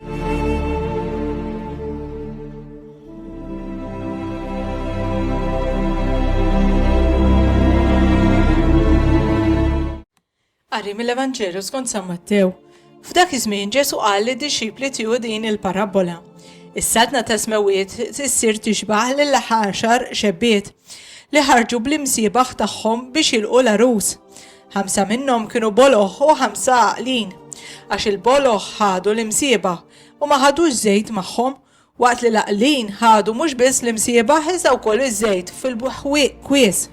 Qari mill-Evanġelju skont San Mattew. F'dak iż-żmien Ġesu qal li dixxipli tiegħu din il-parabbola. Is-saltna ta' smewiet issir tixbaħ lil ħaxar xebbiet li ħarġu bl-imsiebaħ tagħhom biex jilqu l-arus. Ħamsa minnhom kienu boloh u ħamsa għaqlin, għax il-boloh ħadu l-imsieba u ma ħadux żejt magħhom, waqt li l-għaqlin ħadu mhux biss l-imsieba iżda wkoll iż-żejt fil-kwies.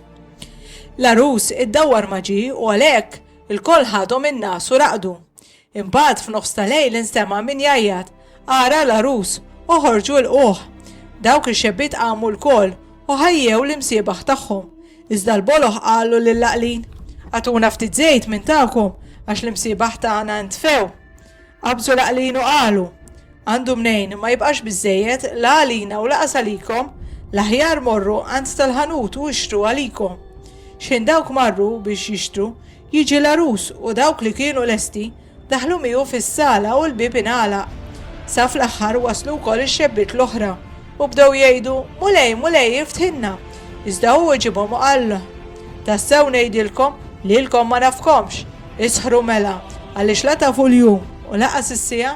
L-għarus iddawwar ma ġie u għalhekk ilkoll ħadhom in-nas u raqdu. Imbagħad f'nofs ta' lejl instema' min jgħajjat, Ara l-għarus, oħorġu ilquh! Dawk ix-xebbiet qamu lkoll u ħajjew l-imsiebaħ tagħhom. Iżda l-boloh qalu lill-għaqlin, Agħtuna ftit żejt minn tagħkom għax l-imsiebaħ tagħna ntfew. Qabżu l-għaqlin u qalu, Għandu mnejn, ma jibqax biżżejjed la għalina u laqas għalikom, l-aħjar morru għand tal-ħanut u ixtru għalikom. Xħin dawk marru biex jixtru, Jiġi l-għarus u dawk li kienu lesti daħlu miegħu fis-sala u l-bieb ingħalaq. Sa fl-aħħar waslu wkoll ix-xebbiet l-oħra u bdew jgħidu, Mulej, Mulej, iftħilna! Iżda hu weġibhom u qal, Tassew ngħidilkom, lilkom ma nafkomx! Isħru mela, għaliex la tafu l-jum u lanqas is-siegħa.